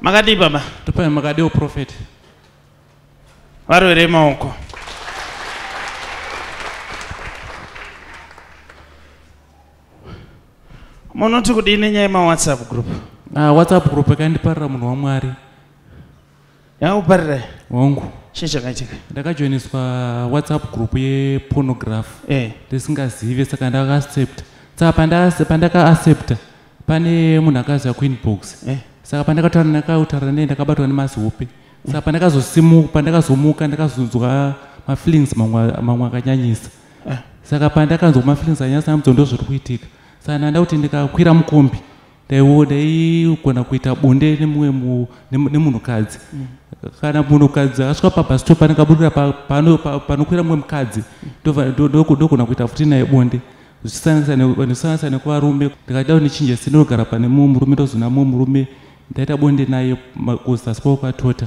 makadii baba topai makadii uprofeti varwere maoko munoti kudii nenyaya yemawhatsapp group ah, whatsapp group yakandiparira munhu wamwari yakuparira hongu chii chakaitika ndakajoiniswa whatsapp group yepornograph eh. ndisingazive saka ndakaaccepta saka pandakaaccepta pane munhu akaziva queen box eh. saka pandakataura ndakautaura nei ndakabatwa nemazihope saka pandakazosimuka pandakazomuka ndakazonzwa mafeelings mamwe akanyanyisa ah. saka pandakanzwa mafeelings anyasa amudzo ndo zviri kuitika saka ndanda kuti ndikakwira mukombi daiwo daigona kuita bonde nemumwe nemunhukadzi mm. kana munhukadzi asvika pabastop panekaburira panokwira mumwe mukadzi ndogona kuita futi naye bonde zvichisanganisa nekuvarume ndikada ndichinje sindinogara pane mumwe murume ndozona mumwe murume ndaita bonde naye kuzasi kwakatota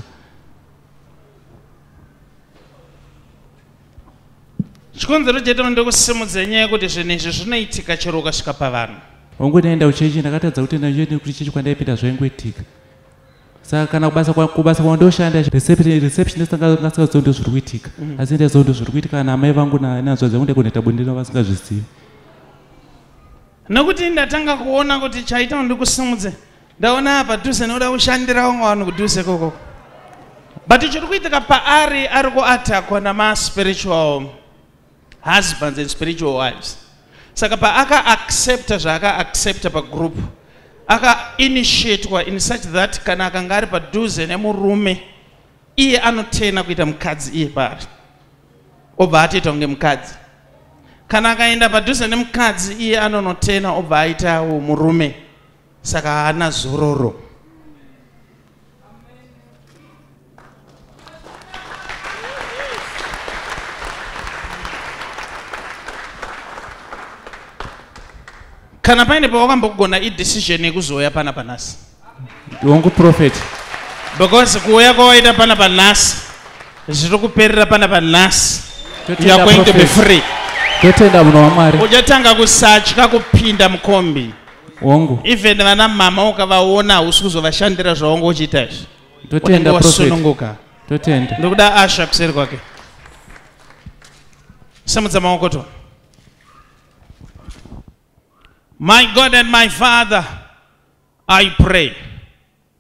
chikonzero chete mande kusimudza nyaya yekuti zvinhu izvi zvinoitika chero ukasvika pavanhu hongu ndaenda kuchechi ndakatadza kutenda nje nekuti chechi kwandaipinda zvaingoitika saka kana kubasa kubasa kwandoshanda receptionist angasingaziva ndo zviri kuitika mm. asi ndaziva ndo zviri kuitika kana amai vangu nanzvadzi vangu ndaikunoita bonde ndino vasingazvizivi nekuti ndatanga kuona kuti chaita ndikusimudze ndaona padhuze noda kushandira wanga wani kudhuze koko but chiri kuitika paari ari kuatakwa namaspiritual husbands and spiritual wives saka paakaaccepta zvaakaaccepta pagroup akainitiatwa in such that kana akanga ari padhuze nemurume iye anotena kuita mukadzi iye paari obva atoita kunge mukadzi kana akaenda padhuze nemukadzi iye anonotena obva aitawo murume saka haana zororo kana paine pawakambogona idecision yekuzouya pana panhasi hongu prophet because kuuya kwawaita pana panhasi zviri kuperera pana panhasi youare going to be free totenda munhu wamwari uchatanga kusatya kupinda mukombi hongu even vana mama ukavaona hausi kuzovashandira zvawanga uchiita izvi totenda wasununguka totenda ndokuda asha kuseri kwake samudza maoko to my god and my father i pray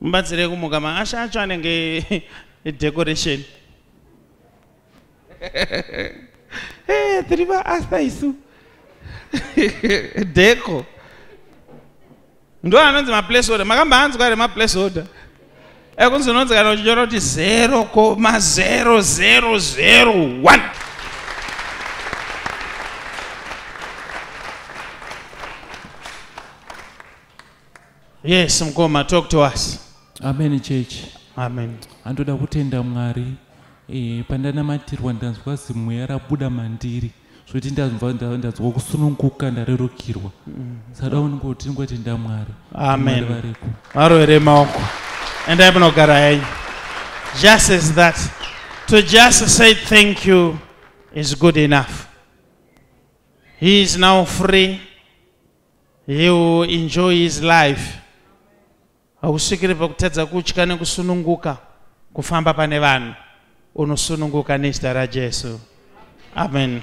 Mubatsire kumuka maasha acho anenge decoration. Eh, tiri vaasta isu. Deco. Ndo anonzi maplace order. Makambaanzwa here maplace order? Ekunzi eh, unonzi kana uchinyora kuti zero koma zero zero zero one. yes mkoma talk to us amen church amen andoda kutenda mwari e, pandanamatirwa ndanzwa zimweya rabuda mandiri zvokuti ndanzwa ndanzwa kusununguka ndarerukirwa mm. sada uningoti ngotenda mwari amen variko varovere maoko endai munogara henyu just as that to just say thank you is good enough he is now free He will enjoy his life. Hausvikire pakutadza kutya nekusununguka kufamba pane vanhu. Unosununguka nezita raJesu. Amen.